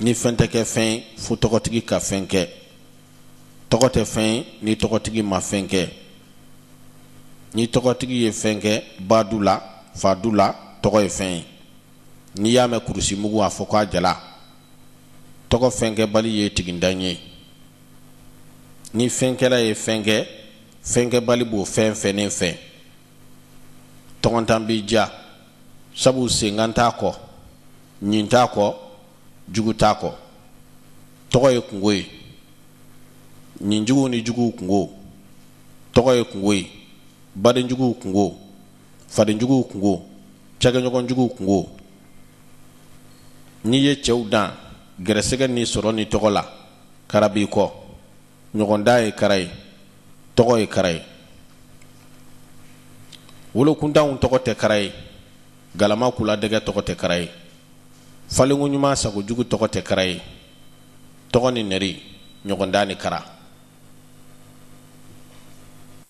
ni fɛn tɛ kɛ fɛn ye fo tɔgɔtigi ka fɛn kɛ tɔgɔ tɛ fɛn ye ni tɔgɔtigi ma fɛn kɛ ni tɔgɔtigi ye fɛn kɛ ba du la fa du la tɔgɔ ye fɛn ye n'i y'a mɛn kurusi mugu a fɔ k'a jala tɔgɔ fɛnkɛbali ye tigintan ye ni fɛnkɛla ye fɛn kɛ fɛnkɛbali b'o fɛn fɛnnen fɛn tɔgɔntan b'i ja sabu senkan t'a kɔ ɲin t'a kɔ jugu t'a kɔ tɔgɔ ye kunko ye ɲinjuguw ni juguw kunko tɔgɔ ye kunko ye badenjuguw kunko fadenjuguw kunko cakɛɲɔgɔnjuguw kunko n'i ye cɛw dan gɛrɛsɛgɛ ni sɔrɔ ni tɔgɔ la kara b'i kɔ ɲɔgɔndan ye kara ye tɔgɔ ye kara ye wolokuntanw tɔgɔ tɛ kara ye galama kuladɛgɛ tɔgɔ tɛ kara ye falenko ɲuman sakojugu tɔgɔ tɛ kara ye tɔgɔ ni nɛri ɲɔgɔndan ni kara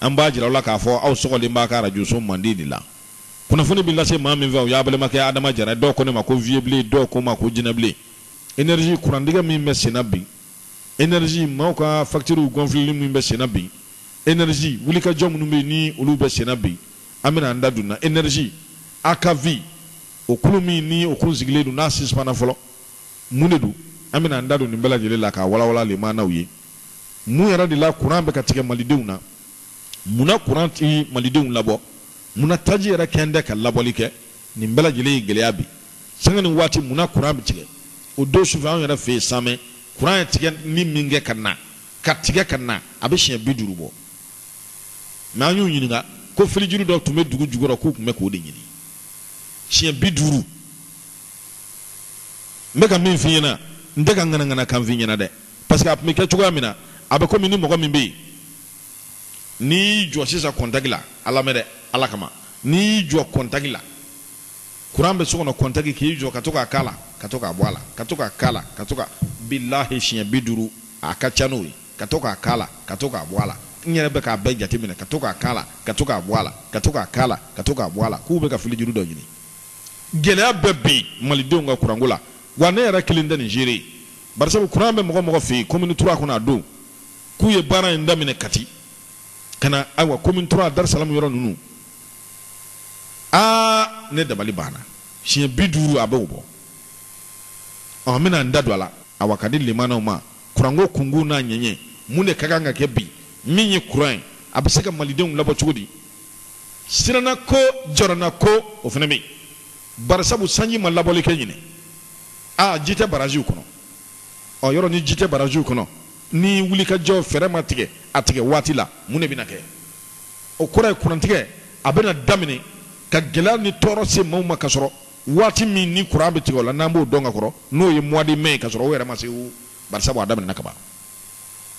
An b'a jira aw la k'a fɔ aw sɔgɔlen b'aw ka arajoso mandi de la. Kunnafoni bɛ lase maa min fɛ, o y'aw balimakɛ Adama Jara ye. Dɔw ko ne ma ko Viyebilen, dɔw ko n ma ko Jinɛbilen. Energie, kurantigɛ min bɛ senna bi. Energie, maaw ka faktiriw gɔnfileli min bɛ senna bi. Energie, wulikajɔ minnu bɛ yen ni olu bɛ senna bi, an bɛna an da don nin na. Energie, AKV, o kulu min ni o kun sigilen don, n'a sispanna fɔlɔ, mun de don? An bɛna an da don nin bɛɛ lajɛlen la k'a walawala lamɛnnaw ye. mun yɛrɛ de la kuran bɛ ka tigɛ malidenw na munna kuran tɛ malidenw labɔ munna taji yɛrɛ kɛn tɛ ka labɔli kɛ nin bɛɛ lajɛlen ye gɛlɛya bi sanga ni waati munna kuran bɛ tigɛ o don sufɛ anw yɛrɛ fɛ yen samɛ kuran ye tigɛni min kɛ ka na ka tigɛ ka na a bɛ siɲɛ bi duuru bɔ mɛ an y'u ɲininka ko filijuru dɔ tun bɛ dugu jukɔrɔ k'u tun bɛ k'o de ɲini siɲɛ bi duuru n bɛ ka min f'i ɲɛna n tɛ ka ŋanaŋana kan f'i ɲɛna dɛ parce que a tun bɛ kɛ cogoya min na a bɛ komi ni mɔgɔ min bɛ yen n'i y'i jɔ sisan kɔntaki la a lamɛn dɛ ala kama n'i y'i jɔ kɔntaki la kuran bɛ so kɔnɔ kɔntaki k'i jɔ ka to k'a k'a la ka to k'a bɔ a la ka to k'a k'a la ka to ka bilahi siɲɛ bi duuru a ka ca n'o ye ka to k'a k'a la ka to k'a bɔ a la n yɛrɛ bɛ k'a bɛɛ jateminɛ ka to k'a k'a la ka to k'a bɔ a la ka to k'a k'a la ka to k'a bɔ a la k'u bɛ ka filijuru dɔ ɲini Gɛlɛya bɛ bi malidenw ka kuranko la wa ne yɛrɛ kelen tɛ nin seere ye barisabu kuran bɛ mɔgɔ mɔgɔ fɛ yen commune trois kɔnɔ a dɔn k'u ye baara in daminɛ kati ka na ayiwa commune trois darisalamu yɔrɔ ninnu aa ne dabali banna siɲɛ bi duuru a b'o bɔ ɔ n bɛna n da don a la awa k'a di lamɛnnaw ma kuranko kunkun n'a ɲɛɲɛ mun de ka kan ka kɛ bi min ye kuran ye a bɛ se ka malidenw labɔ cogo di Sirannako, jɔrɔnako, o fana bɛ yen. Barisabu sanji ma labɔli kɛ ɲinan. Aa ji tɛ baraziw kɔnɔ. Ɔ yɔrɔ ni ji tɛ baraziw kɔnɔ, ni wulikajɔ fɛɛrɛ ma tigɛ a tigɛ waati la, mun de bɛna kɛ? O kɔrɔ ye kurantigɛ, a bɛna daminɛ ka gɛlɛya ni tɔɔrɔ se maaw ma kasɔrɔ waati min ni kuran bɛ tigɛ o la, n'an b'o dɔn ka kɔrɔ, n'o ye mois de mai ye kasɔrɔ o yɛrɛ ma se, barisabu a daminɛna kaban.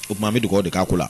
O tuma an bɛ dugawu de k'a ko la.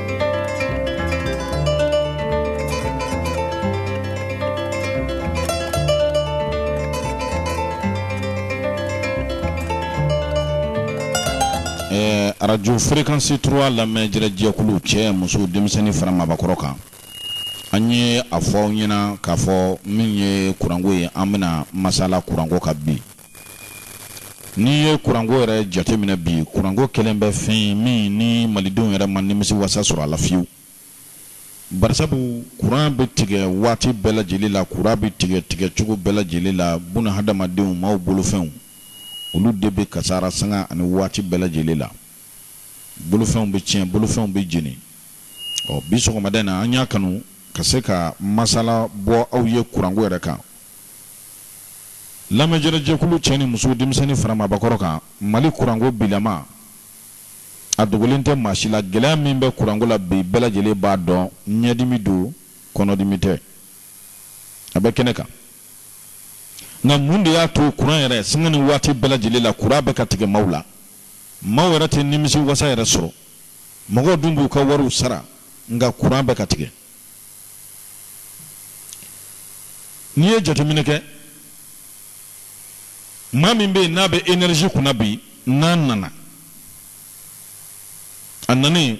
arajo fréquence trois lamɛnjɛrɛ jɛkulu cɛ muso denmisɛnnin fara maabakɔrɔ kan an ye a fɔ aw ɲɛna k'a fɔ min ye kuranko ye an bɛna masala kuranko kan bi N'i ye kuranko yɛrɛ jateminɛ bi kuranko kɛlen bɛ fɛn ye min ni malidenw yɛrɛ ma nimisi wasa sɔrɔ a la fiyewu barisabu kuran bɛ tigɛ waati bɛɛ lajɛlen la kuran bɛ tigɛ tigɛcogo bɛɛ lajɛlen la bunadamadenw maaw bolofɛnw olu de bɛ kasara sanga ani waati bɛɛ lajɛlen la bolofɛnw bɛ tiɲɛ bolofɛnw bɛ jeni ɔ bi sɔgɔmada in na an y'a kanu ka se ka masala bɔ aw ye kuranko yɛrɛ kan Lamɛnjɛrɛ jɛkulu cɛ ni muso denmisɛnnin fara maabakɔrɔ kan mali kuranko bilama a dogolen tɛ maa si la gɛlɛya min bɛ kuranko la bi bɛɛ lajɛlen b'a dɔn ɲɛdimi don kɔnɔdimi tɛ a bɛ kɛnɛ kan nka mun de y'a to kuran yɛrɛ sanga ni waati bɛɛ lajɛlen la kuran bɛ ka tigɛ maaw la maaw yɛrɛ tɛ nimisi wasa yɛrɛ sɔrɔ mɔgɔw dun b'u ka wariw sara nka kuran bɛ ka tigɛ n'i ye jateminɛ kɛ maa min bɛ yen n'a bɛ énergie kunna bi n'a nana a nanen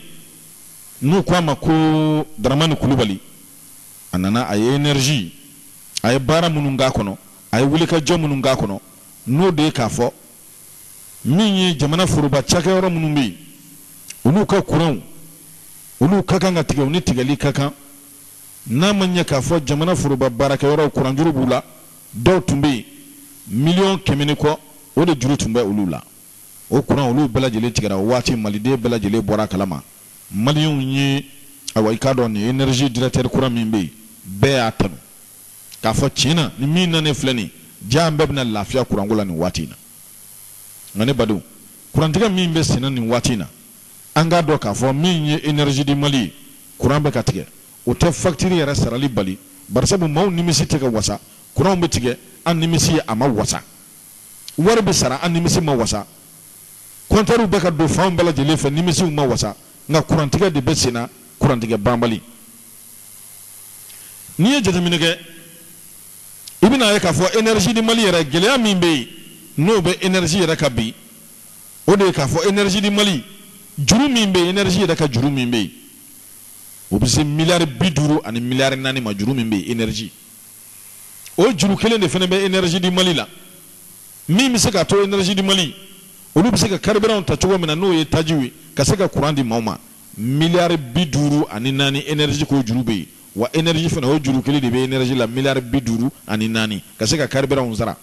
n'u ko a ma ko daramani kulubali a nana a ye énergie a ye baara minnu k'a kɔnɔ a ye wulikajɔ minnu k'a kɔnɔ n'o de ye k'a fɔ min ye jamana foroba cakɛyɔrɔ minnu bɛ yen olu ka kuranw olu ka kan ka tigɛ u ni tigɛli ka kan n'a ma ɲɛ k'a fɔ jamana foroba baarakɛyɔrɔw kuranjuru b'u la dɔw tun bɛ yen miliyɔn kɛmɛ ni kɔ o de juru tun bɛ olu la o kuran olu bɛɛ lajɛlen tigɛra o waati maliden bɛɛ lajɛlen bɔra a kalama maliyɛnw ye awa i k'a dɔn nin énergie directeur kura min bɛ yen bɛɛ y'a tanu k'a fɔ tiɲɛ na ni min nanen filɛ nin jaa an bɛɛ bɛna lafiya kuranko la nin waati in na nka ne badenw kurantigɛ min bɛ senna nin waati in na An k'a dɔn k'a fɔ min ye Energie du Mali kuran bɛ ka tigɛ, o tɛ faktiri yɛrɛ sarali bali, barisabu maaw nimisi tɛ ka wasa, kuranw bɛ tigɛ an nimisi a ma wasa, wari bɛ sara an nimisi ma wasa, kɔntɛriw bɛ ka don fanw bɛɛ lajɛlen fɛ nimisiw ma wasa, nka kurantigɛ de bɛ senna, kurantigɛ banbali. N'i ye jateminɛ kɛ, i bɛna a ye k'a fɔ Energie du Mali yɛrɛ, gɛlɛya min bɛ yen, n'o bɛ Energie yɛrɛ kan bi, o de ye k'a fɔ énergie du Mali juru min bɛ yen énergie yɛrɛ ka juru min bɛ yen o bɛ se miliyari bi duuru ani miliyari naani ma juru min bɛ yen énergie o juru kelen de fana bɛ énergie du Mali la min bɛ se k'a to énergie du Mali olu bɛ se ka carburant ta cogo min na n'o ye tajiw ye ka se ka courant di maaw ma miliyari bi duuru ani naani énergie k'o juru bɛ yen wa énergie fana o juru kelen de bɛ énergie la miliyari bi duuru ani naani ka se ka carburant sara.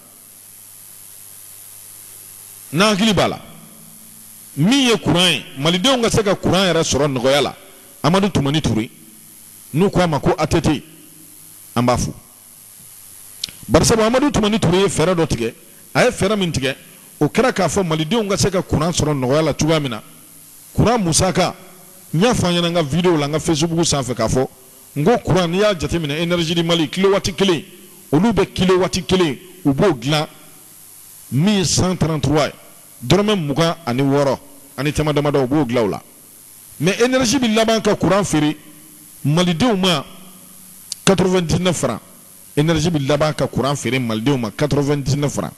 n'an hakili b'a la min ye kuran ye malidenw ka se ka kuran yɛrɛ sɔrɔ nɔgɔya la amadu tumani ture n'u ko a ma ko ATT an b'a fo barisabu amadu tumani ture ye fɛɛrɛ dɔ tigɛ a ye fɛɛrɛ min tigɛ o kɛra k'a fɔ malidenw ka se ka kuran sɔrɔ nɔgɔya la cogoya min na kuran musaka n y'a fɔ aw ɲɛna n ka videow la n ka facebook sanfɛ k'a fɔ N ko kuran n'i y'a jateminɛ Energie du Mali kilowati kelen olu bɛ kilowati kelen u b'o dilan min ye 133 ye dɔrɔmɛ mugan ani wɔɔrɔ ani tama damadɔ u b'o dilan o la mais Energie bɛ laban ka kuran feere Malidenw ma 99 francs Energie bɛ laban ka kuran feere Malidenw ma 99 francs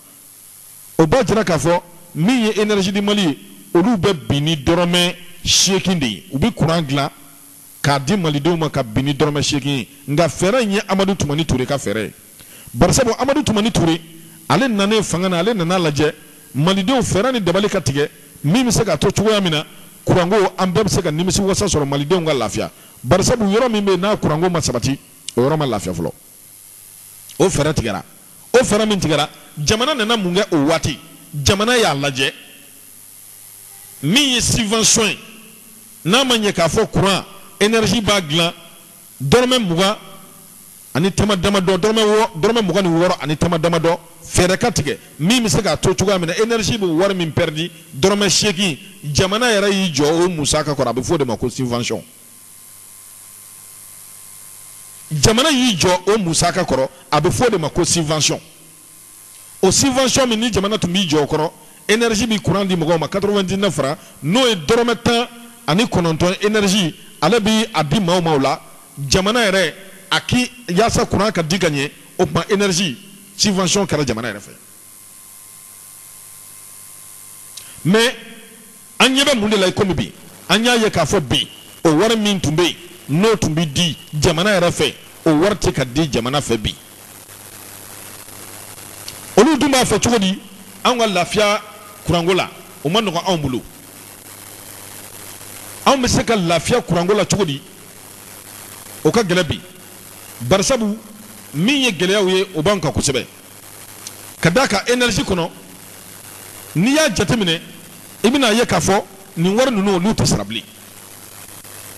o b'a jira k'a fɔ min ye Energie du Mali ye olu bɛ bin ni dɔrɔmɛ seegin de ye u bɛ kuran dilan k'a di malidenw ma ka bin ni dɔrɔmɛ seegin ye nka fɛɛrɛ in ye amadu tumani ture ka fɛɛrɛ ye barisabu amadu tumani ture ale nanen fanga na ale nan'a lajɛ malidenw fɛɛrɛ ni dabali ka tigɛ min bɛ se k'a to cogoya min na kuranko an bɛɛ bɛ se ka nimisi wasa sɔrɔ malidenw ka lafiya barisabu yɔrɔ min bɛ yen n'a kuranko ma sabati o yɔrɔ ma lafiya fɔlɔ o fɛɛrɛ tigɛra o fɛɛrɛ min tigɛra jamana nana mun kɛ o waati jamana y'a lajɛ min ye subvention ye n'a ma ɲɛ k'a fɔ courant énergie b'a dilan dɔrɔmɛ mugan ani tama damadɔ dɔrɔmɛ mugan ni wɔɔrɔ ani tama damadɔ fɛɛrɛ ka tigɛ min bɛ se k'a to cogoya min na énergie bɛ wari min pɛridi dɔrɔmɛ seegin jamana yɛrɛ y'i jɔ o musaka kɔrɔ a bɛ fɔ o de ma ko subvention jamana y'i jɔ o musaka kɔrɔ a bɛ fɔ o de ma ko subvention o subvention min ni jamana tun b'i jɔ o kɔrɔ énergie bɛ courant di mɔgɔw ma 99 francs n'o ye dɔrɔmɛ tan ani kɔnɔntɔn énergie ale bɛ a di maaw ma o la jamana yɛrɛ y'a kɛ yaasa courant ka di ka ɲɛ o tuma énergie subvention kɛra jamana yɛrɛ fɛ mais An ɲɛ bɛ mun de la ikomi bi? An y'a ye k'a fɔ bi, o wari min tun bɛ yen, n'o tun bɛ di jamana yɛrɛ fɛ, o wari tɛ ka di jamana fɛ bi. Olu dun b'a fɔ cogo di? Anw ka lafiya kuranko la, o man nɔgɔn anw bolo. Anw bɛ se ka lafiya kuranko la cogo di? O ka gɛlɛn bi. Barisabu, min ye gɛlɛyaw ye, o b'anw kan kosɛbɛ. ka d'a kan energie kɔnɔ n'i y'a jateminɛ i bɛn'a ye k'a fɔ nin wari ninnu olu tɛ sara bilen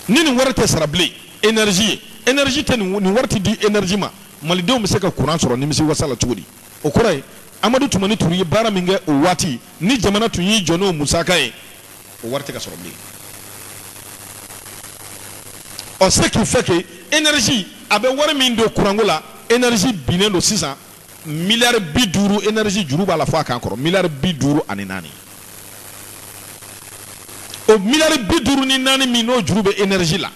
ni nin wari tɛ sara bilen energie ye energie tɛ ni nin wari tɛ di energie ma malidenw bɛ se ka courant sɔrɔ nimisi wasa la cogo di o kɔrɔ ye amadu tumani ture ye baara min kɛ o waati ni jamana tun y'i jɔ n'o musaka ye o wari tɛ ka sɔrɔ bilen ɔ ce qui fait que energie a bɛ wari min don kuranko la energie binnen don sisan miliyari bi duuru energie juru b'a la fo a kan kɔrɔ miliyari bi duuru ani naani o miliyari bi duuru ni naani min n'o juru bɛ energie la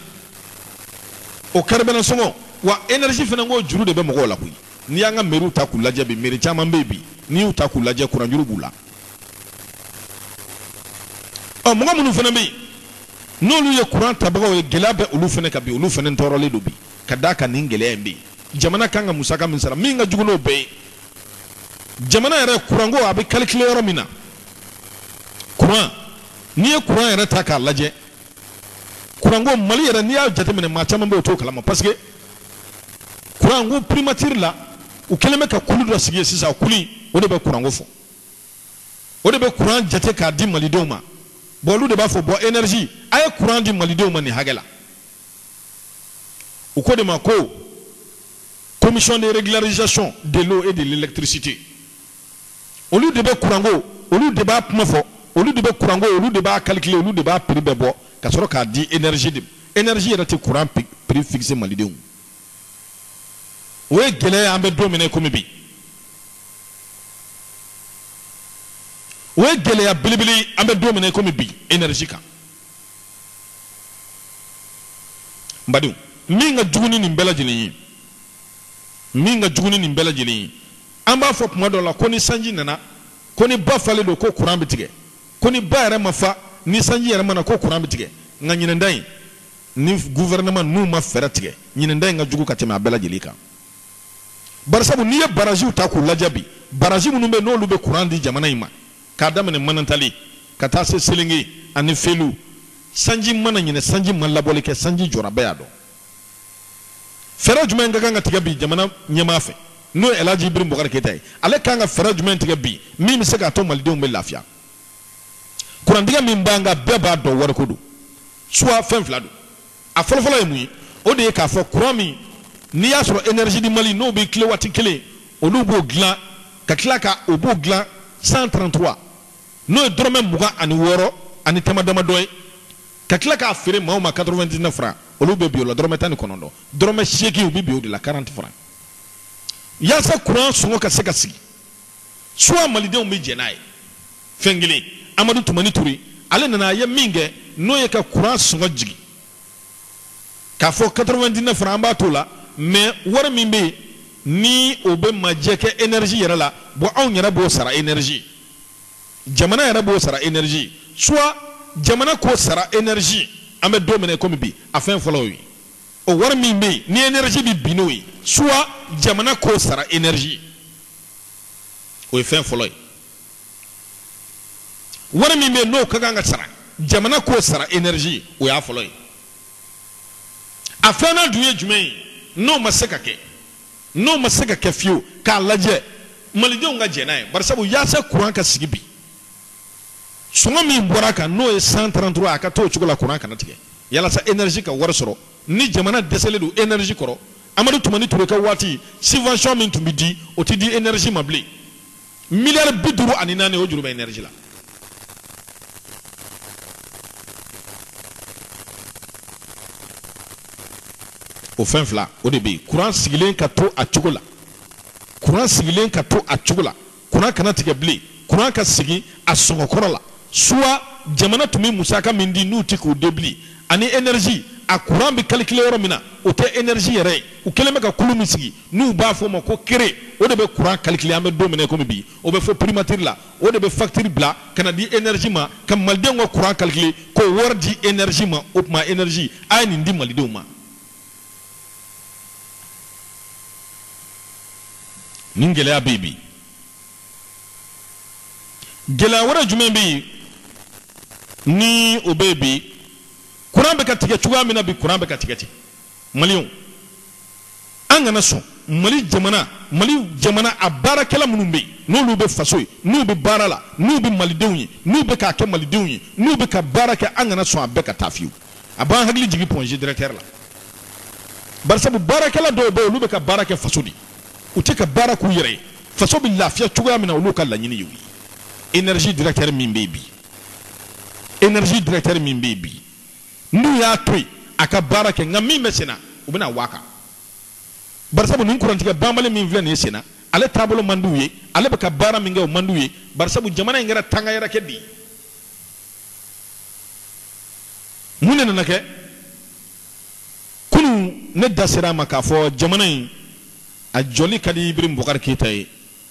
o carburant sɔngɔ wa energie fana k'o juru de bɛ mɔgɔw la koyi n'i y'an ka meriw ta k'u lajɛ bi meri caman bɛ yen bi n'i y'u ta k'u lajɛ kuranjuru b'u la mɔgɔ minnu fana bɛ yen n'olu ye kuran tabagaw ye gɛlɛya bɛ olu fana kan bi olu fana tɔɔrɔlen don bi ka d'a kan nin gɛlɛya in bɛ yen jamana kan ka musaka min sara min ka jugu n'o bɛɛ ye jamana yɛrɛ kuranko a bɛ calculer yɔrɔ min na kuran n'i ye kuran yɛrɛ ta k'a lajɛ kuranko mali yɛrɛ n'i y'a jateminɛ maa caman bɛ o t'o kalama parce que kuranko primature la u kɛlen bɛ ka kulu dɔ sigi sisan kulu o de bɛ kuranko fɔ o de bɛ kuran jate k'a di malidenw ma bon olu de b'a fɔ bon energie a ye kuran di malidenw ma nin hakɛ la u k'o de ma ko commission de régularisation de l'eau et de l'électricité olu de bɛ kuranko olu de b'a kuma fɔ olu de bɛ kuranko olu de b'a calculer olu de b'a prix bɛɛ bɔ ka sɔrɔ k'a di energie de energie yɛrɛ tɛ kuran prix fixer malidenw o ye gɛlɛya an bɛ don min na komi bi o ye gɛlɛya belebele an bɛ don min na komi bi energie kan n badenw min ka jugu ni nin bɛɛ lajɛlen ye min ka jugu ni nin bɛɛ lajɛlen ye An b'a fɔ tuma dɔ la ko ni sanji nana, ko ni ba falen don ko kuran bɛ tigɛ, ko ni ba yɛrɛ ma fa, ni sanji yɛrɛ ma na ko kuran bɛ tigɛ. Nka ɲinɛn ta in, ni gouvernement ninnu ma fɛɛrɛ tigɛ, ɲinɛn ta in ka jugu ka tɛmɛ a bɛɛ lajɛlen kan. Barisabu, n'i ye baraziw ta k'u lajɛ bi, barazi minnu bɛ yen n'olu bɛ kuran di jamana in ma, k'a daminɛ Manantali ka taa se Selenge ani Felu, sanji ma na ɲinɛn, sanji ma labɔli kɛ, sanji jɔra, bɛɛ y'a dɔn. fɛɛrɛ jumɛn ka kan ka tigɛ bi jamana ɲɛmaa fɛ n'o ye Elhaji Ibrahim Boubacar Keita ye ale kan ka fɛɛrɛ jumɛn tigɛ bi min bɛ se k'a to malidenw bɛ lafiya kuran tigɛ min b'an kan bɛɛ b'a dɔn wariko don soit fɛn fila don a fɔlɔfɔlɔ ye mun ye o de ye k'a fɔ kuran min n'i y'a sɔrɔ énergie du Mali n'o bɛ kilowati kelen olu b'o dilan ka tila ka o b'o dilan 133 n'o ye dɔrɔmɛ mugan ani wɔɔrɔ ani tama damadɔ ye ka tila k'a feere maaw ma 99 francs olu bɛ bin o la dɔrɔmɛ tan ni kɔnɔntɔn dɔrɔmɛ seegin u bɛ bin o de la 40 francs yaasa kuran sɔngɔ ka se ka sigi soit malidenw bɛ jɛn n'a ye fɛn kelen Amadu Tumani Ture ale nana a ye min kɛ n'o ye ka kuran sɔngɔ jigin k'a fɔ 99 francs an b'a t'o la mais wari min bɛ yen ni o bɛ majɛ kɛ énergie yɛrɛ la bon anw yɛrɛ b'o sara énergie jamana yɛrɛ b'o sara energie soit jamana k'o sara energie an bɛ don min na komi bi a fɛn fɔlɔ y'o ye o wari min bɛ yen ni energie bɛ bin n'o ye soit jamana k'o sara energie o ye fɛn fɔlɔ ye wari min bɛ yen n'o ka kan ka sara jamana k'o sara energie o y'a fɔlɔ ye a filanan dun ye jumɛn ye n'o ma se ka kɛ N'o ma se ka kɛ fiyewu, k'a lajɛ Malidenw ka jɛn n'a ye, barisabu yaasa kuran ka sigi bi, sɔngɔ min bɔra a kan, n'o ye 133, a ka to o cogo la, kuran kana tigɛ, yalasa energie ka wari sɔrɔ. Ni jamana dɛsɛlen don energie kɔrɔ, Amadu Tumani Ture ka waati, subvention min tun bɛ di, o tɛ di energie ma bilen. miliyari bi duuru ani naani o juru bɛ energie la o fɛn fila o de bɛ yen kuran sigilen ka to a cogo la kuran sigilen ka to a cogo la kuran kana tigɛ bilen kuran ka sigi a sɔngɔ kɔrɔ la soit jamana tun bɛ musaka min di n'u tɛ k'o di bilen ani energie a kuran bɛ calculer yɔrɔ min na o tɛ energie yɛrɛ ye u kɛlen bɛ ka kulu min sigi N'u b'a fɔ o ma ko CREE, o de bɛ courant calculer an bɛ don min na i komi bi, o bɛ fɔ primature la, o de bɛ facture bila ka na di energie ma, ka Malidenw ka courant calculer k'o wari di energie ma. O tuma energie, a ye nin di Malidenw ma. Nin gɛlɛya bɛ yen bi. Gɛlɛya wɛrɛ jumɛn bɛ yen ni o bɛ yen bi? Courant bɛ ka tigɛ cogoya min na bi, courant bɛ ka tigɛ ten. maliyɛnw an kana sɔn mali jamana mali jamana a baarakɛla minnu bɛ yen n'olu bɛ faso ye n'u bɛ baara la n'u bɛ malidenw ye n'u bɛ k'a kɛ malidenw ye n'u bɛ ka baara kɛ an kana sɔn a bɛɛ ka taa fiyewu a b'an hakili jigin pɔnze directeur la barisabu baarakɛla dɔw bɛ yen olu bɛ ka baara kɛ faso de u tɛ ka baara k'u yɛrɛ ye faso bɛ lafiya cogoya min na olu ka laɲini y'o ye energie directeur min bɛ yen bi energie directeur min bɛ yen bi N'u y'a to yen a ka baara kɛ, nka min bɛ sen na, u bɛna w'a kan. Barisabu nin kurantigɛ banbali min filɛ nin ye sen na, ale taabolo man di u ye, ale bɛ ka baara min kɛ, o man di u ye, barisabu jamana in kɛra tangayɛrɛkɛ de ye. Mun de nana kɛ? Kunun, ne da sera a ma k'a fɔ jamana in a jɔli ka di Ibrahim Boubacar Keita ye.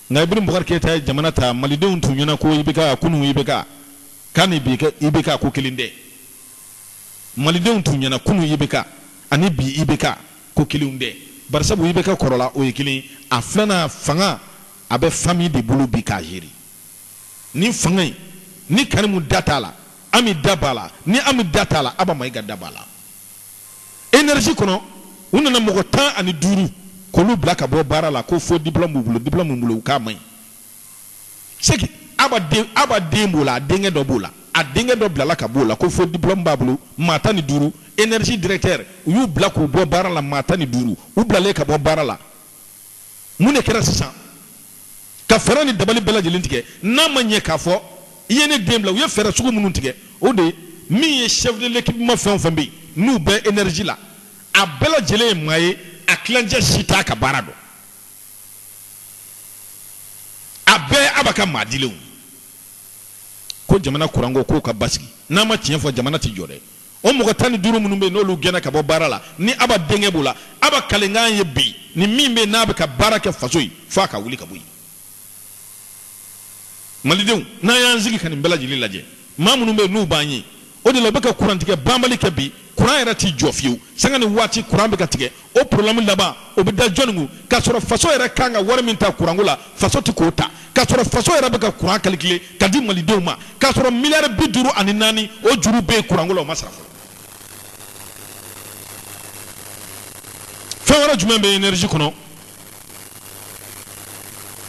Nka Ibrahim Boubacar Keita ye jamana ta, Malidenw tun ɲɛna ko IBK, kunun IBK, k'a ni bi IBK ko kelen tɛ. Malidenw tun ɲɛna kunun IBK ani bi IBK ko kelen tɛ. Barisabu IBK kɔrɔla, o ye kelen ye. A filanan, fanga, a bɛ famille de bolo bi k'a gérer. Nin fanga in, ni Karimu da t'a la, Ami da b'a la, ni Ami da t'a la, Aba Mayiga da b'a la. énergie kɔnɔ u nana mɔgɔ tan ani duuru k'olu bila ka bɔ baara la ko faux diplôme b'u bolo diplôme min b'u bolo u k'a man ɲi c'est que aba den aba den b'o la a denkɛ dɔ b'o la a denkɛ dɔ bilala ka b'o la ko faux diplôme b'a bolo maa tan ni duuru énergie directeur u y'u bila k'u bɔ baara la maa tan ni duuru u bilalen ka bɔ baara la mun de kɛra sisan ka fɛɛrɛ ni dabali bɛɛ lajɛlen tigɛ n'a ma ɲɛ k'a fɔ i ye ne den bila u ye fɛɛrɛ sugu minnu tigɛ o de ye min ye chef de l'équipement fɛn o fɛn bɛ yen n'u bɛ énergie la a bɛɛ lajɛlen ye maa ye a tilancɛ si t'a ka baara dɔn a bɛɛ aba ka maa dilenw ko jamana kuranko k'o ka basigi n'a ma tiɲɛ fɔ jamana tɛ jɔ dɛ o mɔgɔ tan ni duuru minnu bɛ n'olu gɛnna ka bɔ baara la ni aba denkɛ b'o la aba kalikan ye bi ni min bɛ n'a bɛ ka baara kɛ faso ye f'a k'a wuli ka bɔ yen malidenw n'an y'an sigi ka nin bɛɛ lajɛlen lajɛ maa minnu bɛ n'u b'an ye o de la u bɛ ka kurantigɛ banbali kɛ bi kuran yɛrɛ t'i jɔ fiyewu sanga ni waati kuran bɛ ka tigɛ o problème laban o bɛ da jɔni kun k'a sɔrɔ faso yɛrɛ kan ka wari min ta kuranko la faso tɛ k'o ta k'a sɔrɔ faso yɛrɛ bɛ ka kuran calculer ka di malidenw ma k'a sɔrɔ miliyari bi duuru ani naani o juru bɛ yen kuranko la o ma sara fɔlɔ fɛn wɛrɛ jumɛn bɛ énergie kɔnɔ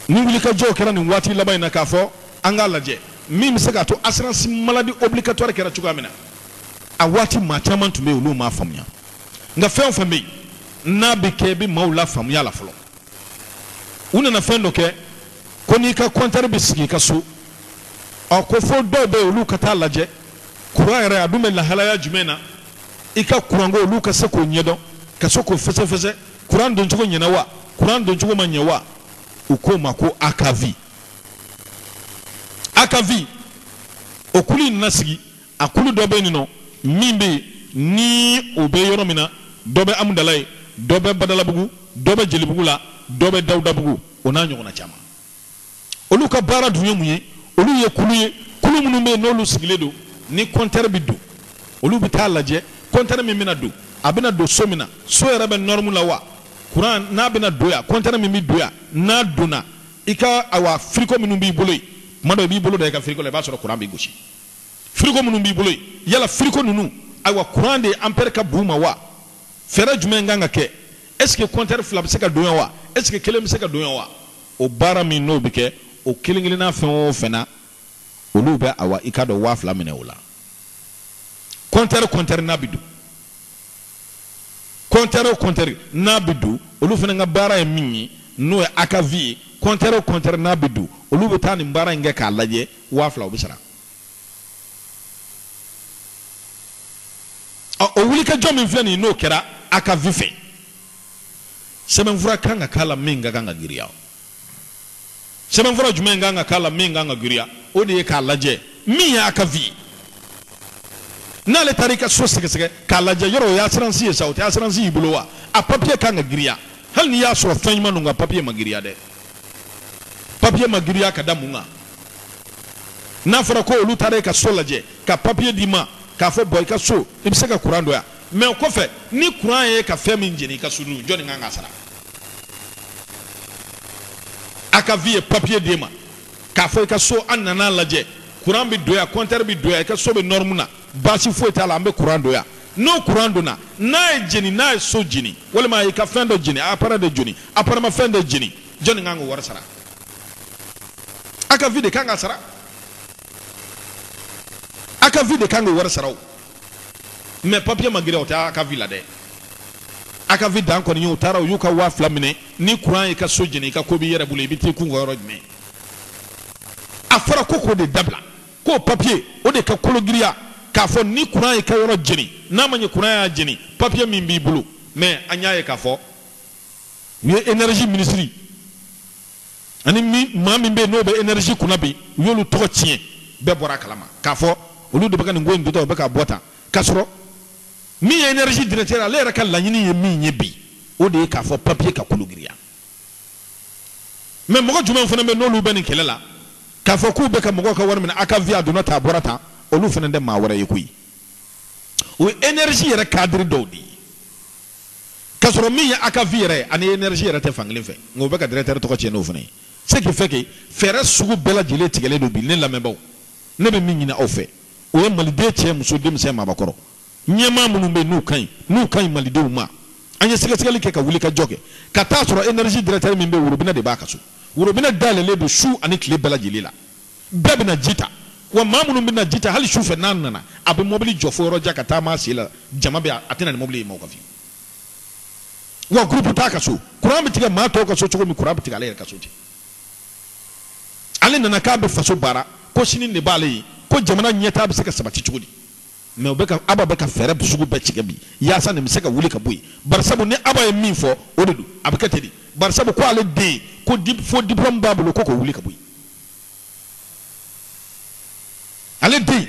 ni wulikajɔw kɛra nin waati laban in na k'a fɔ an k'a lajɛ min bɛ se k'a to assurance maladie obligatoire kɛra cogoya min na a waati maa caman tun bɛ yen olu m'a faamuya nka fɛn o fɛn bɛ yen n'a bɛ kɛ i bɛ maaw lafaamuya a la fɔlɔ u nana fɛn dɔ kɛ ko n'i ka kɔntɛri bɛ sigi i ka so ɔ ko fo dɔw bɛ yen olu ka taa lajɛ kuran yɛrɛ a dun bɛ lahalaya jumɛn na i ka kuranko olu ka se k'o ɲɛdɔn ka se k'o fɛsɛfɛsɛ kuran doncogo ɲɛna wa kuran doncogo ma ɲɛ wa u k'o ma ko akavi akavi o kulu in nana sigi A kulu dɔ bɛ yen nɔ min bɛ ni o bɛ yɔrɔ min na dɔ bɛ amudalayi dɔ bɛ badalabugu dɔ bɛ jelibugu la dɔ bɛ dawudabugu o n'a ɲɔgɔnna caman olu ka baara dun ye mun ye olu ye kulu ye kulu minnu bɛ yen n'olu sigilen don ni kɔnte bɛ don olu bɛ taa lajɛ kɔnte min bɛna don a bɛna don so min na so yɛrɛ bɛ nɔrɔmu la wa kuran n'a bɛna don yan kɔnte min bɛ don yan n'a donna i ka a wa firiko minnu b'i bolo tuma dɔ i b'i bolo da i ka firiko la i b'a sɔrɔ kuran bɛ gosi Firiko minnu b'i bolo yen yala firiko ninnu ayiwa kuran de anpɛri ka bon u ma wa fɛɛrɛ jumɛn kan ka kɛ eseke kɔnte fila bɛ se ka don yan wa eseke kelen bɛ se ka don yan wa o baara min n'o bɛ kɛ o kelen kelenna fɛn o fɛn na olu bɛ a wa i ka dɔrɔmɛ waa fila minɛ o la kɔnte kɔnte n'a bɛ don kɔntɛri o kɔntɛri n'a bɛ don olu fana ka baara ye min ye n'o ye akavi ye kɔntɛri o kɔntɛri n'a bɛ don olu bɛ taa nin baara in kɛ k'a lajɛ waa fila o bɛ sara o wulikajɔ min filɛ nin ye n'o kɛra akavi fɛ sɛbɛnfura kan ka k'a la min ka kan ka giriya sɛbɛnfura jumɛn kan ka k'a la min kan ka giriya o de ye k'a lajɛ min ye akavi n'ale taara i ka so sɛgɛsɛgɛ k'a lajɛ yɔrɔ o ye asiransi ye sa o tɛ asiransi y'i bolo wa a papiye kan ka giriya hali n'i y'a sɔrɔ fɛn ɲuman don nka papiye ma giriya dɛ papiye ma giriya ka da mun kan n'a fɔra ko olu taara i ka so lajɛ ka papiye d'i ma k'a fɔ bon i ka so i bɛ se ka kuran don yan mɛ o kɔfɛ ni kuran y'i ka fɛn min jeni i ka so dun jɔni kan ka sara akavi ye papier d'e ma k'a fɔ i ka so an nana lajɛ courant bɛ don yan compteur bɛ don yan i ka so bɛ norme na baasi foyi t'a la an bɛ courant don yan n'o courant donna n'a ye jeni n'a ye so jeni walima a y'i ka fɛn dɔ jeni appareil dɔ jeni apparemment fɛn dɔ jeni jɔni kan k'o wari sara akavi de kan ka sara. akavi de kan k'o wari sara o mɛ papiye ma giriya o tɛ akavi la dɛ akavi dan kɔni ye u taara u y'u ka waa fila minɛ ni kuran y'i ka so jeni i ka ko b'i yɛrɛ bolo i bɛ t'i kun ka yɔrɔ jumɛn a fɔra ko k'o de dabila ko papiye o de ka kolo giriya k'a fɔ ni kuran y'i ka yɔrɔ jeni n'a ma ɲɛ kuran y'a jeni papiye min b'i bolo mɛ an y'a ye k'a fɔ u ye énergie minisiri ani maa min bɛ n'o bɛ enɛrizi kunna bi u y'olu tɔgɔ tiɲɛ bɛɛ bɔra a kalama k'a fɔ olu de bɛ nin ko in don tan u bɛ k'a bɔ tan k'a sɔrɔ min ye enɛrizi dirɛkitɛri ale yɛrɛ ka laɲini ye min ye bi o de ye k'a fɔ papiye ka kolo giriya mɛ mɔgɔ jumɛn fana bɛ n'olu bɛ nin kɛlɛ la k'a fɔ k'u bɛ ka mɔgɔw ka wari minɛ akavi a donna tan a bɔra tan olu fana tɛ maa wɛrɛ ye koyi o ye enɛrizi yɛrɛ kadiri dɔw de ye Ka sɔrɔ min ye a ka vie yɛrɛ ani energie yɛrɛ tɛ fankelen fɛ. Nka u bɛ ka directeur tɔgɔ tiɲɛ n'o fana ye. Ce qui fait que fɛɛrɛ sugu bɛɛ lajɛlen tigɛlen don bi ne lamɛnbaaw, ne bɛ min ɲini aw fɛ, o ye Maliden cɛ, muso, denmisɛn, maabakɔrɔ, ɲɛmaa minnu bɛ yen n'u ka ɲi Malidenw ma, an ye sɛgɛsɛgɛli kɛ ka wulikajɔ kɛ, ka t'a sɔrɔ energie directeur min bɛ yen, worobinɛ de b'a ka so. Worobinɛ dayɛlɛlen don su ani tile bɛɛ lajɛlen la. Bɛɛ bɛ na ji ta, wa maa minnu bɛ na ji ta, hali su fɛ n'a nana, a bɛ mɔbili jɔ fo yɔrɔ jan ka taama a sen la, jama bɛ a tɛ na ni mɔbili ye maaw kan fiyewu. Wa groupe t'a ka so, kuran bɛ tigɛ maa tɔw ka so cogo min, kuran bɛ tigɛ ale yɛrɛ ka so ten. Ale nana k'a bɛ faso baara, ko sini de b'ale ye, ko jamana ɲɛtaa bɛ se ka sabati cogo di? Mais o bɛ ka, Aba bɛ ka fɛɛrɛ sugu bɛɛ tigɛ bi, yaasa nin bɛ se ka wuli ka bɔ yen. Barisabu ni Aba ye min fɔ, o de don, a bɛ kɛ ten de. Barisabu ko ale den, ko faux diplome b'a bolo, ko k'o wuli ka bɔ yen. ale den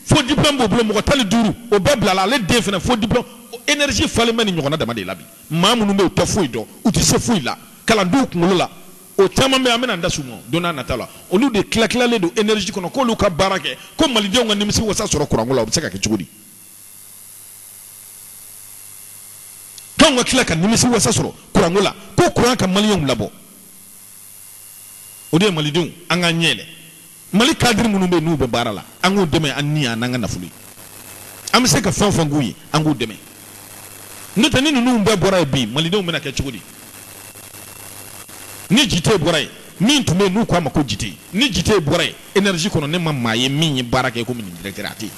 faux diplôme b'u bolo mɔgɔ tan ni duuru o bɛɛ bilala ale den fana faux diplôme énergie falen bɛ nin ɲɔgɔnna dama de la bi maa minnu bɛ yen u tɛ foyi dɔn u tɛ se foyi la kalandenw kunkolo la o caman bɛ an bɛna da s'u ma don n'a nata la olu de tilatilalen don énergie kɔnɔ k'olu ka baara kɛ ko malidenw ka nimisiwasa sɔrɔ kuranko la o bɛ se ka kɛ cogo di k'anw ka tila ka nimisiwasa sɔrɔ kuranko la ko kuran ka maliyɛnw labɔ o de ye malidenw an k'an ɲɛ yɛlɛ mali cadre minnu bɛ n'u bɛ baara la an k'u dɛmɛ an ni an n'an ka nafolo ye an bɛ se ka fɛn o fɛn k'u ye an k'u dɛmɛ n'o tɛ ni ninnu bɛɛ bɔra yen bi malidenw bɛna kɛ cogo di ni jite bɔra yen min tun bɛ yen n'u k'a ma ko jite ni jite bɔra yen énergie kɔnɔ ne ma maa ye min ye baara kɛ komi nin directeur a tɛ yen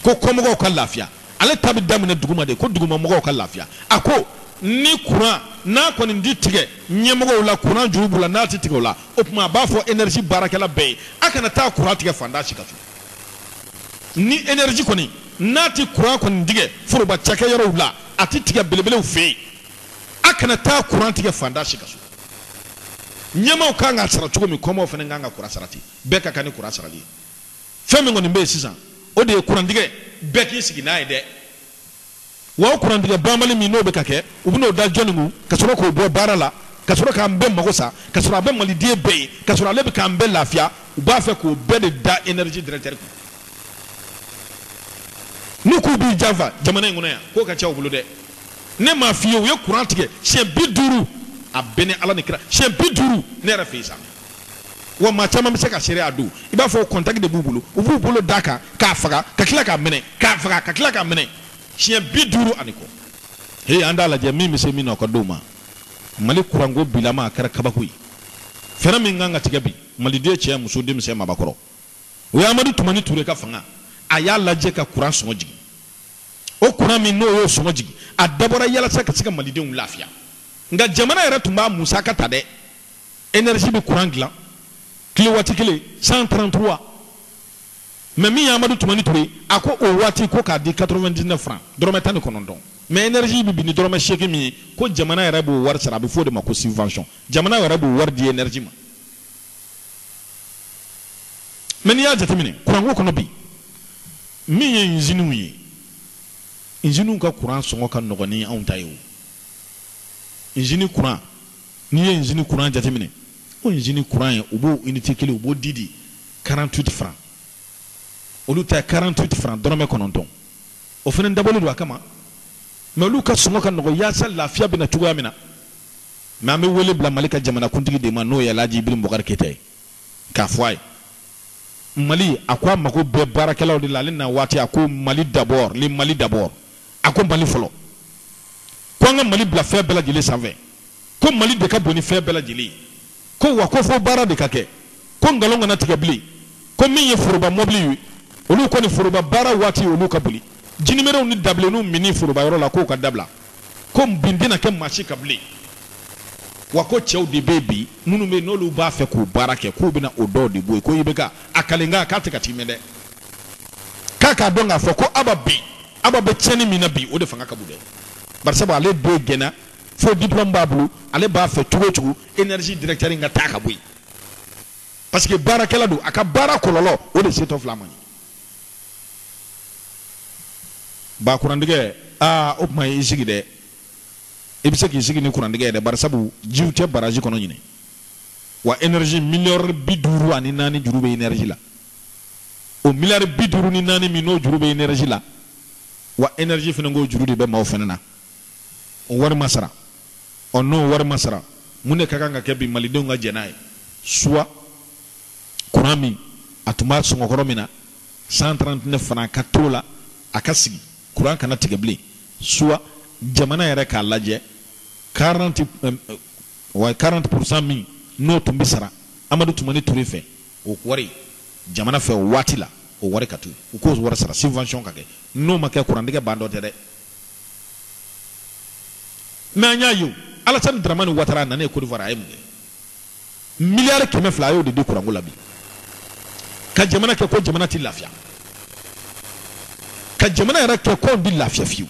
ko kɔmɔgɔw ka lafiya ale ta bɛ daminɛ duguma de ko dugumamɔgɔw ka lafiya a ko ni kuran n'a kɔni tɛ tigɛ ɲɛmɔgɔw la kuran juru b'u la n'a tɛ tigɛ u la o tuma a b'a fɔ énergie baarakɛla bɛɛ ye a kana taa kuran tigɛ faantan si ka so ni énergie kɔni n'a tɛ kuran kɔni tigɛ foroba cakɛyɔrɔw la a tɛ tigɛ belebelew fɛ yen a kana taa kuran tigɛ faantan si ka so ɲɛmaaw kan ka sara cogo min kɔmaaw fana kan ka kuran sara ten bɛɛ ka kan ni kuran sarali ye Fɛn min kɔni bɛ yen sisan, o de ye kurantigɛ bɛɛ k'i sigi n'a ye dɛ! Wa o kurantigɛ banbali min n'o bɛ ka kɛ, u bɛn'o da jɔni kun ka sɔrɔ k'o bɔ baara la, ka sɔrɔ k'an bɛɛ mago sa, ka sɔrɔ a bɛ maliden bɛɛ ye, ka sɔrɔ ale bɛ k'an bɛɛ lafiya? U b'a fɛ k'o bɛɛ de da energie directeur kun. N'u k'u b'i janfa jamana in kɔnɔ yan, ko ka ca u bolo dɛ! Ne m'a f'i ye u ye kuran tigɛ siɲɛ bi duuru? A bɛ ne Ala ni kira, siɲɛ bi duuru ne yɛrɛ fɛ yen sa! wa maa caman bɛ se ka seereya don i b'a fɔ contact de b'u bolo u b'u bolo d'a kan k'a faga ka tila k'a minɛ k'a faga ka tila k'a minɛ siɲɛ bi duuru ani kɔ he an t'a lajɛ min bɛ se min na o ka d'o ma mali kuranko bilama a kɛra kabako ye fɛɛrɛ min kan ka tigɛ bi maliden cɛ muso denmisɛn maabakɔrɔ o ye amadu tumani ture ka fanga a y'a lajɛ ka kuran sɔngɔ jigin o kuran min n'o y'o sɔngɔ jigin a dabɔra yalasa ka se ka malidenw lafiya nka jamana yɛrɛ tun b'a musaka ta dɛ énergie bɛ courant dilan kilowatt kelen 133 mais min ye Amadu Tumani Ture a ko o waati ko k'a di 99 francs dɔrɔmɛ tan ni kɔnɔntɔn mais énergie bɛ bin ni dɔrɔmɛ seegin min ye ko jamana yɛrɛ b'o wari sara a bɛ f'o de ma ko subvention jamana yɛrɛ b'o wari di énergie ma mais n'i y'a jateminɛ courant ko kɔnɔ bi min ye usines ye usines ka courant sɔngɔ ka nɔgɔn ni anw ta ye o usine courant N'i ye usine courant jateminɛ, o usine courant in, u b'o unité kelen, u b'o di di 48 francs, olu ta ye 48 francs, dɔrɔmɛ kɔnɔntɔn. O fana dabɔlen don a kama, mais olu ka sɔngɔ ka nɔgɔn yaasa lafiya bɛ na cogoya min na. Mais an bɛ wele bila Mali ka jamanakuntigi de ma, n'o ye Alhaji Ibrahim Boubacar Keita ye, k'a fɔ a ye, Mali, a ko a mago bɛ baarakɛlaw de la, ale na waati, a ko Mali d'abord, le Mali d'abord. a ko mali fɔlɔ ko an ka mali bila fɛn bɛɛ lajɛlen sanfɛ ko mali de ka bon ni fɛn bɛɛ lajɛlen ko wa ko fo baara de ka kɛ ko nkalon kana tigɛ bilen ko min ye foroba mɔbili ye olu kɔni foroba baara waati olu ka boli jinimɛrɛw ni dabilenninw minni forobayɔrɔ la k'o ka dabila ko bin tɛna kɛ maa si kan bilen wa ko cɛw de bɛ bi minnu bɛ n'olu b'a fɛ k'u baara kɛ k'u bɛna o dɔw de bɔ yen ko IBK a kalenkan k'a tɛ ka tiimɛ dɛ k'a k'a dɔn k'a fɔ ko aba bɛ aba bɛ tiɲɛni min na bi o de fanga ka bon dɛ barisabu ale den gɛnna faux diplôme b'a bolo ale b'a fɛ cogo o cogo énergie directeur in ka taa ka bɔ yen parce que baarakɛla don a ka baara kɔlɔlɔ o de setɔ filɛ an ma nin ba kurantigɛ aa o tuma i sigi dɛ i bɛ se k'i sigi ni kurantigɛ ye dɛ barisabu jiw tɛ baraji kɔnɔ ɲinan wa énergie miliyari bi duuru ani naani juru bɛ énergie la o miliyari bi duuru ni naani min n'o juru bɛ enerji la wa enerji fana k'o juru de bɛ maaw fana na o wari ma sara ɔ n'o wari ma sara mun de ka kan ka kɛ bi malidenw ka jɛn n'a ye soit kuran min a tun b'a sɔngɔkɔrɔ min na 139 francs ka t'o la a ka sigi kuran kana tigɛ bilen soit jamana yɛrɛ k'a lajɛ 40 euh, euh, wa 40 min n'o tun bɛ sara amadu tumani ture fɛ O wari jamana fɛ o waati la o wari ka to u k'o wari sara subvention ka kɛ n'o ma kɛ kurantigɛ ban don tɛ dɛ mais an y'a ye Alassane Dramane Ouattara a nanen Côte d'Ivoire a ye mun kɛ miliyari kɛmɛ fila a y'o de di kuranko la bi ka jamana kɛ ko jamana tɛ lafiya ka jamana yɛrɛ kɛ k'anw tɛ lafiya fiyewu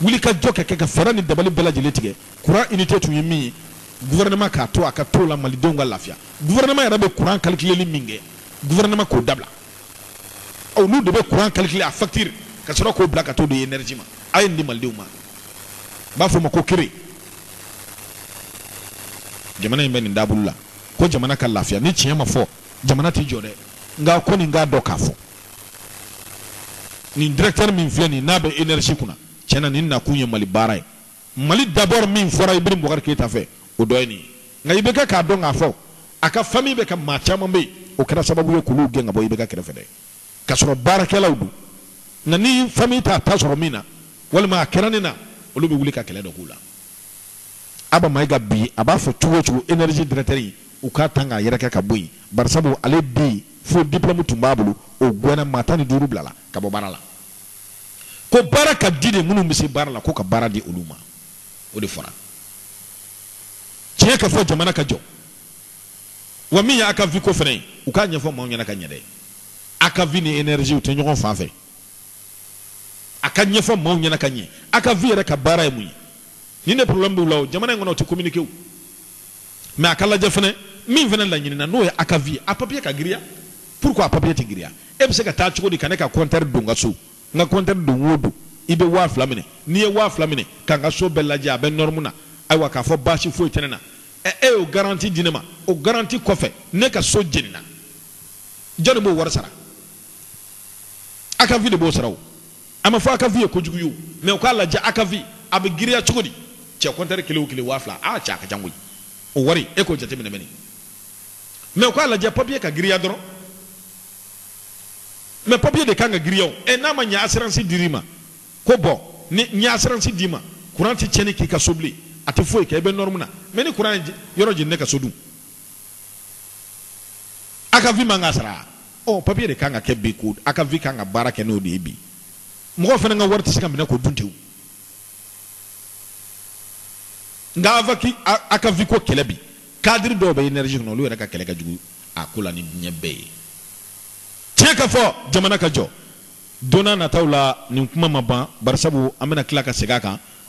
wuli ka jɔ kɛ ka fɛɛrɛ ni dabali bɛɛ lajɛlen tigɛ kuran unité tun ye min ye gouvernement k'a to a ka to la malidenw ka lafiya gouvernement yɛrɛ bɛ kuran calculeli min kɛ gouvernement k'o dabila olu de bɛ kuran calculer a facture ka sɔrɔ k'o bila ka t'o di énergie ma a ye nin di malidenw ma n b'a fɔ o ma ko kere jamana in bɛ nin taabolo la ko jamana ka lafiya ni tiɲɛ ma fɔ jamana tɛ jɔ dɛ nka ko nin k'a dɔn k'a fɔ nin directeur min filɛ nin n'a bɛ énergie kunna tiɲɛ na nin nakun ye Mali baara ye Mali d'abord min fɔra Ibrahim Boubacar Keita fɛ o dɔ ye nin ye nka i bɛ kɛ k'a dɔn k'a fɔ a ka famille bɛ ka maa caman bɛ yen o kɛra sababu ye k'olu gɛn ka bɔ IBK kɛrɛfɛ dɛ ka sɔrɔ baarakɛlaw don nka ni famille t'a ta sɔrɔ min na walima a kɛra nin na olu bɛ wuli ka kɛlɛ dɔ k'u la Aba Mayiga bi a b'a fɔ cogo o cogo énergie directeur in u k'a tan k'a yɛrɛkɛ ka bɔ yen, barisabu ale den fo diplôme tun b'a bolo o gɛnna, maa tan ni duuru bilala ka bɔ baara la, ko baara ka di de, minnu bɛ se baara la ko ka baara di olu ma, o de fɔra, tiɲɛ ka fɔ jamana ka jɔ, wa min ye ACAVIE ko fana ye u k'a ɲɛfɔ maaw ɲɛna ka ɲɛ dɛ, ACAVIE ni énergie u tɛ ɲɔgɔn fan fɛ. a ka ɲɛfɔ maaw ɲɛna ka ɲɛ ACAVIE yɛrɛ ka baara ye mun ye ni ne problème b'u la o jamana in kɔnɔ o tɛ communiqué o mais a ka lajɛ fɛnɛ min fɛnɛ laɲinina n'o ye ACAVIE a papier ka giriya pourquoi a papier tɛ giriya e bɛ se ka taa cogo di ka ne ka compteur don n ka so n ka compteur don o don i bɛ waa fila minɛ n'i ye waa fila minɛ ka n ka so bɛɛ lajɛ a bɛ norme na ayiwa k'a fɔ baasi foyi tɛ ne na ɛ e y'o garanti di ne ma o garanti kɔfɛ ne ka so jenina jɔni b'o wari sara ACAVIE de b'o sara o a ma fɔ ACAVIE ye kojugu ye o mɛ u k'a lajɛ ACAVIE a bɛ giriya cogo di cɛ kɔntɛri kelen o kelen waa fila aa cɛ a ka ca koyi o wari e k'o jateminɛ mɛni mɛ u k'a lajɛ papiye ka giriya dɔrɔn mɛ papiye de kan ka giriya o ɛ n'a ma ɲɛ asiransi dir'i ma ko bɔn ni n ye asiransi d'i ma kuran tɛ tiɲɛni k'i ka so bilen a tɛ foyi kɛ i bɛ nɔrɔmu na mɛ ni kuran ye yɔrɔ jeni ne ka so dun ACAVIE man ka sara ɔ papiye de kan ka kɛ bi ko ACAVIE kan ka baara kɛ n'o de ye bi mɔgɔ fana ka wari tɛ se ka minɛ k'o dun ten nka ACAVIE ko kɛlɛ bi kadiri dɔw bɛ énergie kɔnɔ olu yɛrɛ ka kɛlɛ ka jugu a ko la ni diɲɛ bɛɛ ye tiɲɛ ka fɔ jamana ka jɔ don na nataw la nin kuma ma ban barisabu an bɛna tila ka segin a kan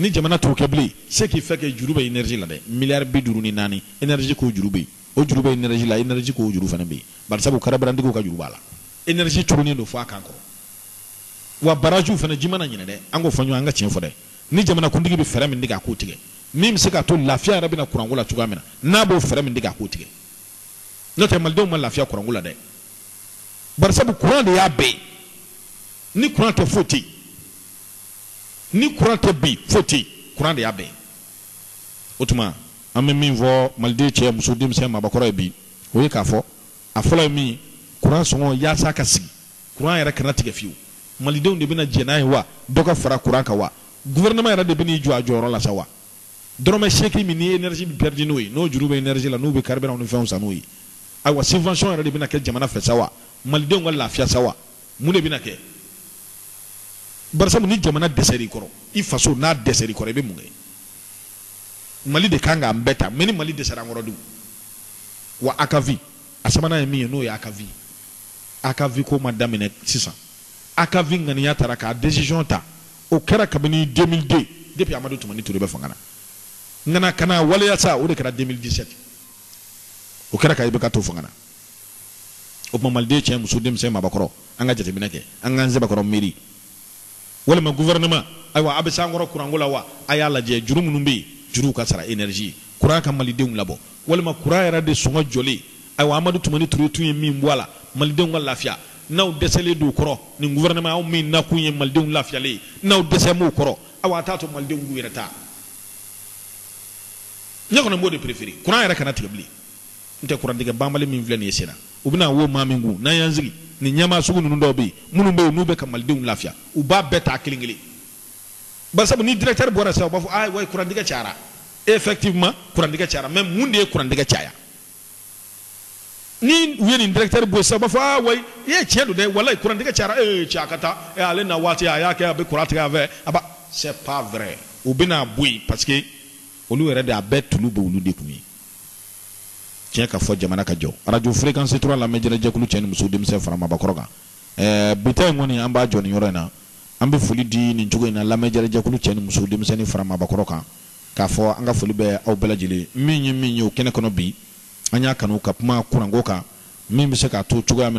Ni jamana t'o kɛ bilen, ce qui fait que juru bɛ energie la dɛ, miliyari bi duuru ni naani, energie ko juru bɛ yen, o juru bɛ energie la, energie ko juru fana bɛ yen, barisabu karabirantigiw ka juru b'a la, energie turunen don fo a kan kɔrɔ, wa baraziw fana ji ma na ɲinan dɛ, an k'o fɔ ɲɔgɔn ye, an ka tiɲɛ fɔ dɛ, ni jamanakuntigi bɛ fɛɛrɛ min tigɛ a k'o tigɛ, min bɛ se k'a to lafiya yɛrɛ bɛ na kuranko la cogoya min na, n'a b'o fɛɛrɛ min tigɛ a k'o tigɛ, n'o tɛ malidenw ma lafiya kuranko la dɛ, barisabu kuran de y'a bɛɛ ye, ni kuran tɛ foyi tɛ yen. ni kuran tɛ bi foyi tɛ kuran de y'a bɛɛ ye o tuma an bɛ min fɔ maliden cɛ muso denmisɛn mabakɔrɔ ye bi o ye k'a fɔ a fɔlɔ ye min ye kuran sɔngɔ yaasa ka sigi kuran yɛrɛ kana tigɛ fiyewu malidenw de bɛna jɛ n'a ye wa dɔ ka fara kuran kan wa gouvernement yɛrɛ de bɛn'i jɔ a jɔyɔrɔ la sa wa dɔrɔmɛ seegin min ni énergie bɛ perdre n'o ye n'o juru bɛ énergie la n'u bɛ carburant ni fɛnw san n'o ye ayiwa subvention yɛrɛ de bɛna kɛ jamana fɛ sa wa malidenw ka lafiya sa wa Mun de bɛna kɛ? Barisabu ni jamana dɛsɛra i kɔrɔ, i faso n'a dɛsɛra i kɔrɔ, i bɛ mun kɛ? Mali de ka kan k'an bɛɛ ta, mais ni Mali dɛsɛra an kɔrɔ dun? Wa a ka vie a sabanan ye min ye, n'o ye a ka vie ye. A ka vie ko ma daminɛ sisan. A ka vie ŋaniya tara k'a decision ta, o kɛra kabini 2002, depuis Amadu Tumani Ture bɛ fanga na. Ŋana, ka n'a waleya sa, o de kɛra 2017. O kɛra ka IBK to fanga na. o tuma maliden cɛ muso denmisɛn mabakɔrɔ an ka jateminɛ kɛ an k'an sɛbɛkɔrɔ miiri walima gouvernement ayiwa a bɛ s'an kɔrɔ kuranko la wa a y'a lajɛ juru minnu bɛ yen juruw ka sara énergie kuran ka malidenw labɔ walima kuran yɛrɛ de sɔngɔ jɔlen ayiwa amadu tumani ture tun ye min bɔ a la malidenw ka lafiya n'aw dɛsɛlen don o kɔrɔ nin gouvernement aw min nakun ye malidenw lafiyalen ye n'aw dɛsɛlen b'o kɔrɔ awa a t'a to malidenw k'u yɛrɛ ta ne kɔni b'o de préférer kuran yɛrɛ kana tigɛ bilen n tɛ kurantigɛ banbali min filɛ nin ye sen na u bɛna wo maa min kun n'an y'an sigi nin ɲɛmaa sugu ninnu dɔw bɛ yen minnu bɛ yen n'u bɛ ka malidenw lafiya u b'a bɛɛ ta kelen kelen bari sabu ni directeur bɔra sisan u b'a fɔ ayi wayi kurantigɛ cayara effectivement kurantigɛ cayara mais mun de ye kurantigɛ caya ni u ye nin directeur bɔ sisan u b'a fɔ aa wayi i ye tiɲɛ don dɛ walayi kurantigɛ cayara ee eh, cɛ a ka taa eh, ale na waati a y'a kɛ a bɛ kuran tigɛ a fɛ a ba c'est pas vrai u bɛna bɔ yen parce que olu yɛrɛ de a bɛɛ tulu b'olu de kun ye tiɲɛ ka fɔ jamana ka jɔ radio fréquence 3 lamɛn jɛrɛ jɛkulu cɛ ni muso denmisɛn fara mabakɔrɔ kan ɛɛ bi ta in kɔni an b'a jɔ nin yɔrɔ in na an bɛ foli di nin cogo in na lamɛn jɛrɛ jɛkulu cɛ ni muso denmisɛnnin fara mabakɔrɔ kan k'a fɔ an ka foli bɛ aw bɛɛ lajɛlen min ye min ye o kɛnɛ kɔnɔ bi an y'a kanu ka kuma kuranko kan min bɛ se k'a to cogoya min na